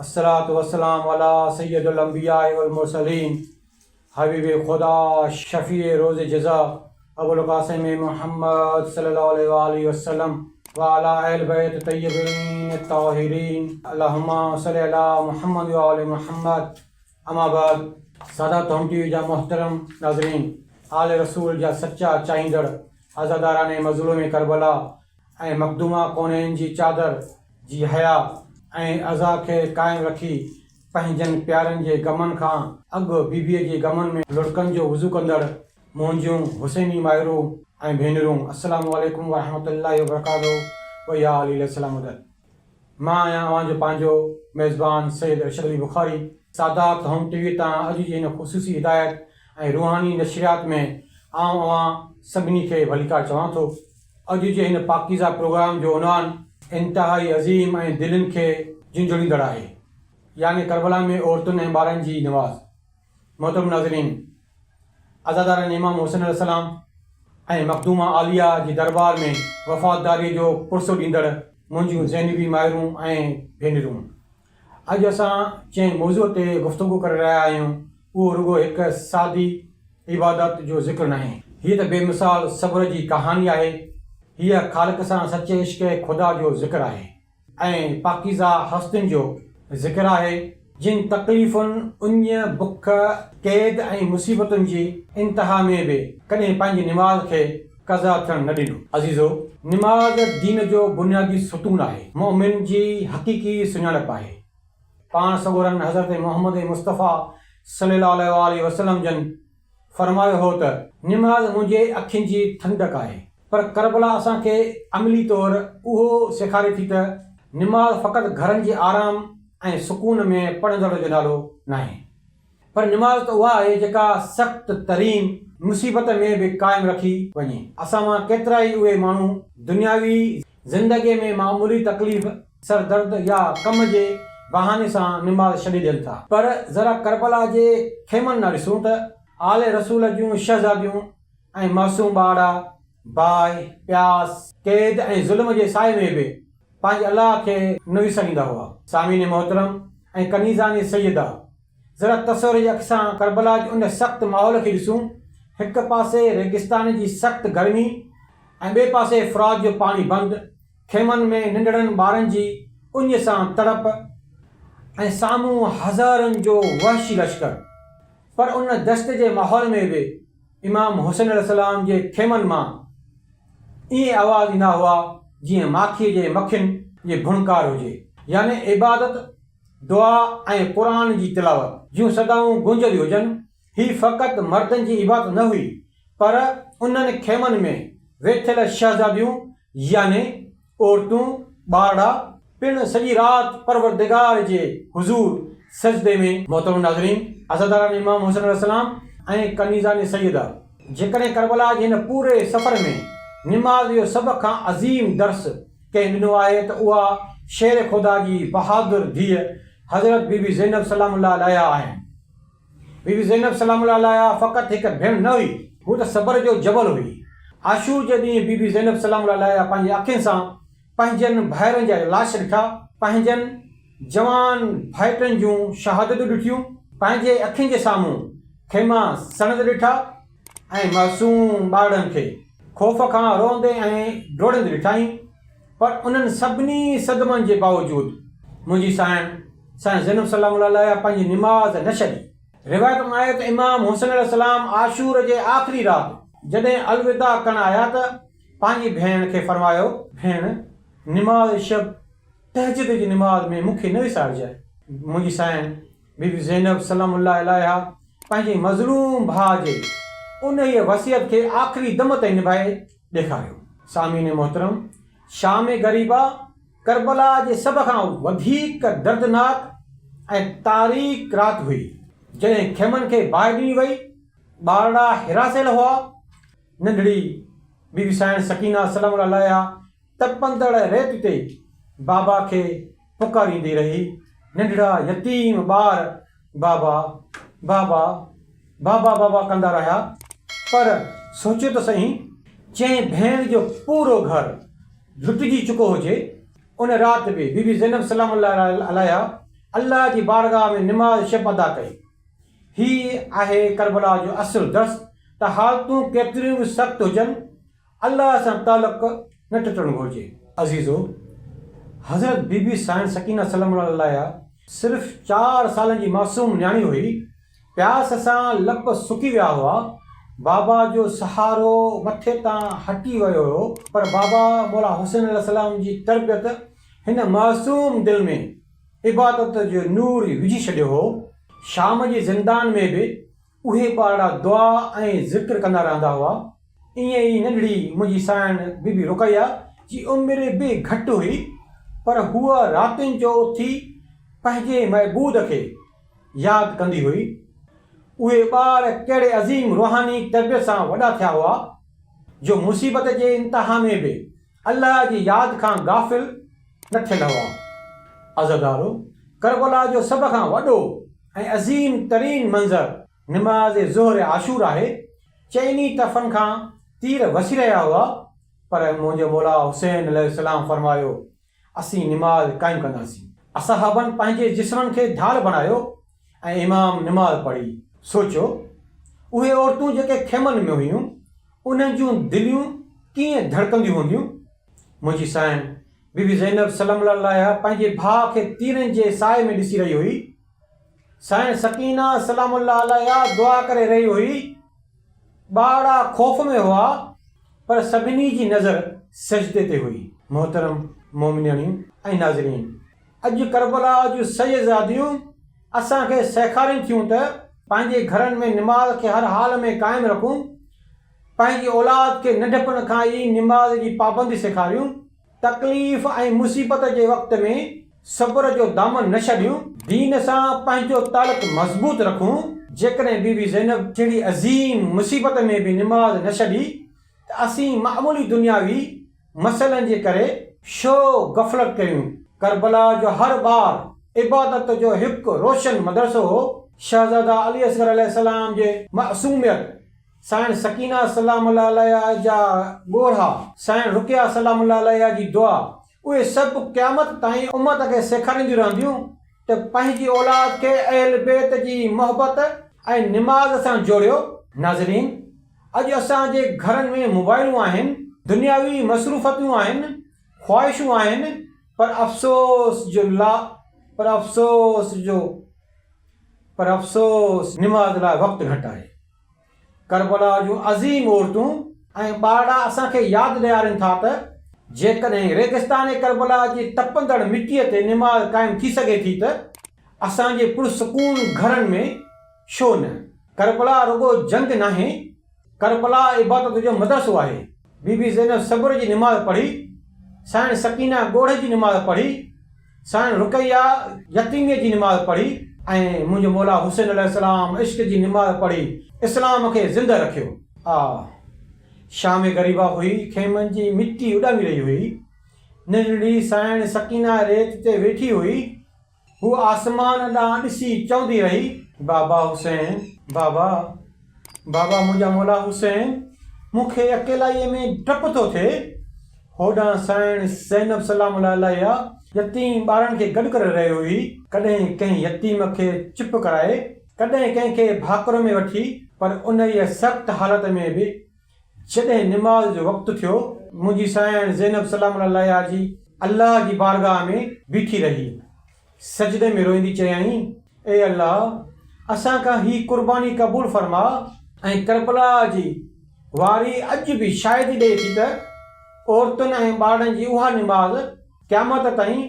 الصلوة والسلام علی سيد الانبياء والمرسلين حبيب خدا شفيع روز جزا ابوالقاسم محمد صلي الله عليه وآله وسلم وعلى اهل بيت طيبين الطاهرين اللهم صل علی محمد وآل محمد اما بعد سادات هوم ٽي وي جا محترم ناظرين آل رسول جا سچا چاهيندڙ عزاداران مظلوم ڪربلا ۽ مخدومه ڪونين جي چادر جي حياء ۽ عزا کي قائم رکي پنهنجن پيارن جي غمن کان اڳ بيبيء جي غمن ۾ لڙڪن جو وضو ڪندڙ منهنجيون حسيني مائرون ۽ ڀينرون السلام عليڪم ورحمة الله وبرڪاته ويا علي السلام در. مان آهيان اوهان جو پنهنجو ميزبان سيد ارشد علي بخاري. سادات هوم ٽي وي تان اڄ جي هن خصوصي هدايت ۽ روحاني نشريات ۾ آئون اوهان سڀني کي ڀليڪار چوان ٿو. اڄ جي هن پاڪيزه پروگرام جو عنوان انتهائي عظيم ۽ دلين کي جهنجهوڙيندڙ آهي يعني ڪربلا ۾ عورتن ۽ ٻارن جي نماز. محترم ناظرين! عزادارن امام حسين عليه السلام ۽ مخدومه عاليه جي دربار ۾ وفاداريء جو پرسو ڏيندڙ منهنجيون زينبي مائرون ۽ ڀينرون! اڄ اسان جنهن موضوع تي گفتگو ڪري رهيا آهيون، اهو رڳو هڪ سادي عبادت جو ذڪر ناهي. هيء ته بي مثال صبر جي ڪهاڻي آهي. هيء خالق سان سچي عشق خدا جو ذڪر آهي. ۽ پاڪيزه هستين جو ذڪر آهي، جن تڪليفن، اڃ، بک، قيد ۽ مصيبتن جي انتها ۾ به ڪڏهن پنهنجي نماز کي قضا ٿيڻ نه ڏنو. عزيزو! نماز دين جو بنيادي ستون آهي، مؤمن جي حقيقي سڃاڻپ آهي. پاڻ سڳورن حضرت محمد مصطفيٰ صلّي اللّٰه عليه واٰله وسلّم جن فرمايو هو ته نماز منهنجي اکين جي ٺنڊڪ آهي، پر ڪربلا اسان کي عملي طور اهو سيکاري ٿي ته نماز فقط گهرن جي آرام ۽ سڪون ۾ پڙهندڙ جو نالو ناهي، پر نماز ته اها آهي جيڪا سخت ترين مصيبت ۾ به قائم رکي وڃي. اسان مان ڪيترائي اهي ماڻهو دنياوي زندگيء ۾ معمولي تڪليف، سر درد يا ڪم جي بهاني سان نماز ڇڏي ڏين ٿا. پر ذرا ڪربلا جي خيمن ڏانهن ڏسون ته آل رسول جون شهزاديون ۽ معصوم ٻارڙا باهه، پياس، قيد ۽ ظلم جي سائي ۾ به پنهنجي الله کي نه وساريندا هئا. سامعين محترم ۽ ڪنيزان سيده! ذرا تصور جي اک سان ڪربلا جي ان سخت ماحول کي ڏسون، هڪ پاسي ريگستان جي سخت گرمي ۽ ٻئي پاسي فرات جو پاڻي بند، خيمن ۾ ننڍڙن ٻارن جي اڃ سان تڙپ ۽ سامهون هزارن جو وحشي لشڪر. پر ان دهشت جي ماحول ۾ به امام حسين عليه السلام جي خيمن مان ائين آواز ايندا هئا جيئن ماکيء جي مکين جي ڀڻڪار هجي. يعني عبادت دعا ۽ قرآن جي تلاوت جون صدائون گونجنديون هجن، هي فقط مردن جي عبادت نه هئي، پر انهن خيمن ۾ ويٺل شهزاديون يعني عورتون، ٻارڙا، پڻ سڄي رات پروردگار جي حضور سجدي ۾. محترم ناظرين! عزاداران امام حسين عليه السلام ۽ ڪنيزان سيده جيڪڏهن ڪربلا جي هن پوري سفر ۾ نماز جو سڀ کان عظيم درس، ڪنهن ڏنو آهي ته اها شير خدا جي بهادر ڌيء حضرت بي بي زينب سلام الله عليها آهن. بي بي زينب سلام الله عليها فقط هڪ ڀيڻ نه هئي. هوء ته صبر جو جبل هئي. عاشور جي ڏينهن بي بي زينب سلام الله عليها پنهنجي اکين سان پنهنجن ڀائرن جا لاش ڏٺا. پنهنجن جوان ڀائٽن جون شهادتون ڏٺيون. پنهنجي اکين جي سامهون خيما سڙندڙ ڏٺا. ۽ معصوم ٻارڙن کي خوف کان روئندي ۽ ڊوڙندي ڏٺائين، پر انهن سڀني صدمن جي باوجود منهنجي سائڻ سائين زينب سلام الله عليها پنهنجي نماز نه ڇڏي. روايت ۾ آهي ته امام حسين عليه السلام عاشور جي آخري رات جڏهن الوداع ڪرڻ آيا ته پنهنجي ڀيڻ کي فرمايو، ڀيڻ نماز شب، تهجد جي نماز، ۾ مون کي نه وسارجانء، منهنجي سائڻ بي بي زينب سلام الله عليها پنهنجي مظلوم ڀاء جي انهيء وصيت کي آخري دم تائين نڀائي ڏيکاريو. سامعين محترم! شام غريبه ڪربلا جي سڀ کان وڌيڪ دردناڪ ۽ تاريڪ رات هئي، جڏهن خيمن کي باهه ڏني وئي، ٻارڙا هراسيل هئا، ننڍڙي بي بي سائڻ سڪينه سلام الله عليها تپندڙ ريت تي بابا کي پڪاريندي رهي، ننڍڙا يتيم ٻار بابا، بابا، بابا بابا ڪندا رهيا، پر سوچيو ته سهين، جنهن ڀيڻ جو پورو گهر لٽجي چڪو هجي، ان رات به بي بي زينب سلام الله عليها الله جي بارگاهه ۾ نماز شب ادا ڪئي. هي آهي ڪربلا جو اصل درس ته حالتون ڪيتريون به سخت هجن، الله سان تعلق نه ٽٽڻ گهرجي. عزيزو! حضرت بي بي سائڻ سڪينه سلام الله عليها صرف چار سالن جي معصوم نياڻي هئي، پياس سان لپ سڪي ويا هئا، بابا جو سهارو مٿي تان هٽي ويو هيو، پر بابا مولا حسين عليه السلام جي تربيت هن معصوم دل ۾ عبادت جو نور وجهي ڇڏيو هو، شام جي زندان ۾ به اهي ٻارڙا دعا ۽ ذڪر ڪندا رهندا هئا. ائين ئي ننڍڙي منهنجي ساڻ بيبي رقيه جي عمر به گهٽ هئي پر هوء راتين جو اٿي پنهنجي معبود کي ياد ڪندي هئي. اهي ٻار ڪهڙي عظيم روحاني تربيت سان وڏا ٿيا هئا جو مصيبت جي انتها ۾ به الله جي ياد کان غافل نه ٿيل هئا. عزادارو! ڪربلا جو سڀ کان وڏو ۽ عظيم ترين منظر نماز ظهر عاشور آهي، چئني طرفن کان تير وسي رهيا هئا، پر منهنجو مولا حسين عليه السلام فرمايو، اسين نماز قائم ڪنداسين. اصحابن پنهنجي جسمن کي ڍال بڻايو. ۽ امام نماز پڙهي. سوچيو، اهي عورتون جيڪي خيمن ۾ هيون، انهن جون دليون ڪيئن ڌڙڪنديون هونديون؟ منهنجي سائڻ، بي بي زينب سلام الله عليها پنهنجي ڀاء کي تيرن جي سائي ۾ ڏسي رهي هئي. سائڻ سڪينه سلام الله عليها دعا ڪري رهي هئي. ٻارڙا خوف ۾ هئا، پر سڀني جي نظر سجدي تي هئي. محترم مومنياڻيون ۽ ناظرين! اڄ ڪربلا جون شهزاديون اسان کي سيکارين ٿيون ته پنهنجي گهرن ۾ نماز کي هر حال ۾ قائم رکون، پنهنجي اولاد کي ننڍپڻ کان ئي نماز جي پابندي سيکاريون، تڪليف ۽ مصيبت جي وقت ۾ صبر جو دامن نه ڇڏيون، دين سان پنهنجو تعلق مضبوط رکون، جيڪڏهن بي بي زينب جهڙي عظيم مصيبت ۾ به نماز نه ڇڏي ته اسين معمولي دنياوي، مسئلن جي ڪري شو غفلت ڪيون. ڪربلا جو هر ٻار عبادت جو هڪ روشن مدرسو هو. شهزاده علي اصغر عليه السلام جي معصوميت، سائڻ سڪينه سلام الله عليها جا ڳوڙها، سائڻ رقيه سلام الله عليها جي دعا، اهي سڀ قيامت تائين امت کي سيکارينديون رهنديون ته پنهنجي اولاد کي اهل بيت جي محبت ۽ نماز سان جوڙيو. ناظرين! اڄ اسان جي گهرن ۾ موبائلون آهن، دنياوي مصروفتيون آهن، خواهشون آهن پر افسوس جو لا پر افسوس جو پر افسوس نماز لاء وقت گهٽ آهي. ڪربلا جون عظيم عورتون ۽ ٻارڙا اسان کي ياد ڏيارين ٿا ته جيڪڏهن ريگستان ڪربلا جي تپندڙ مٽيء تي نماز قائم ٿي سگهي ٿي ته اسان جي پرسڪون گهرن ۾ ڇو نه؟ ڪربلا رڳو جنگ ناهي، ڪربلا عبادت جو مدرسو آهي. بي بي زينب صبر جي نماز پڙهي، سائڻ سڪينه ڳوڙهه جي نماز پڙهي، سائڻ رقيه يتيميء جي نماز پڙهي، ۽ منهنجو مولا حسين عليه السلام عشق جي نماز پڙهي اسلام کي زندهه رکيو. آء شام غريبا هئي، خيمن جي مٽي اڏامي رهي هئي، ننڍڙي سائڻ سڪينه ريت تي ويٺي هئي، هوء آسمان ڏانهن ڏسي چوندي رهي. بابا حسين! بابا! بابا منهنجا مولا حسين! مون کي اڪيلائيء ۾ ڊپ ٿو ٿئي. هوڏانهن سائڻ زينب سلام الله عليها يتيم ٻارڙن کي گڏ ڪري رهي هئي. ڪڏهن ڪنهن يتيم کي چپ ڪرائي، ڪڏهن ڪنهن کي ڀاڪر ۾ وٺي، پر انهيء سخت حالت ۾ به جڏهن نماز جو وقت ٿيو، منهنجي سانئڻ زينب سلام الله عليها جي الله جي بارگاهه ۾ بيٺي رهي. سجدي ۾ روئيندي چيائين، اي الله! اسان کان هي قرباني قبول فرماء. ۽ ڪربلا جي واري اڄ به شاهدي ڏئي ٿي ته عورتن ۽ ٻارڙن جي اها نماز قيامت تائين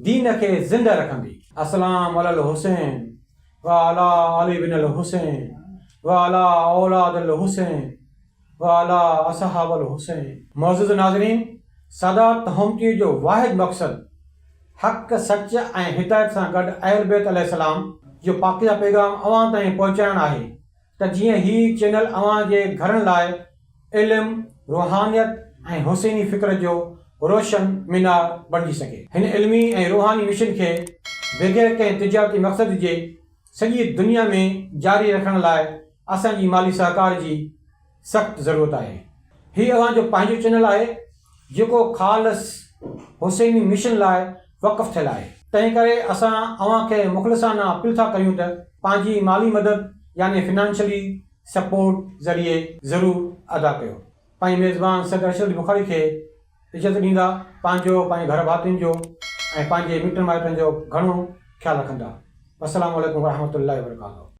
دين کي زنده رکندي. اسلام علي الحسين وعلي علي بن الحسين وعلي اولاد الحسين وعلي اصحاب الحسين. معزز ناظرين سادات هومچيء جو واحد مقصد حق، سچ ۽ هدايت سان گڏ اهل بيت عليه السلام جو پاڪيزه پيغام اوهان تائين پهچائڻ آهي. ته جيئن هي چينل اوهان جي گهرن لاء علم، روحانيت ۽ حسيني فڪر جو روشن مينار بڻجي سگهي. هن علمي ۽ روحاني مشن کي بغير ڪنهن تجارتي مقصد جي سڄي دنيا ۾ جاري رکڻ لاء اسان جي مالي سهڪار جي سخت ضرورت آهي. هي اوهان جو پنهنجو چينل آهي. جيڪو خالص حسيني مشن لاء وقف ٿيل آهي. تنهن ڪري اسان اوهان کي مخلصانه اپيل ٿا ڪريون ته پنهنجي مالي مدد يعني فنانشلي سپورٽ ذريعي ضرور ادا ڪيو. پنهنجي ميزبان سيد ارشد علي بخاري کي عزت ڏيندا، پنهنجو، پنهنجي گهر ڀاتين جو ۽ پنهنجي مٽن مائٽن جو گهڻو خيال رکندا. والسلام عليڪم ورحمة الله وبرڪاته.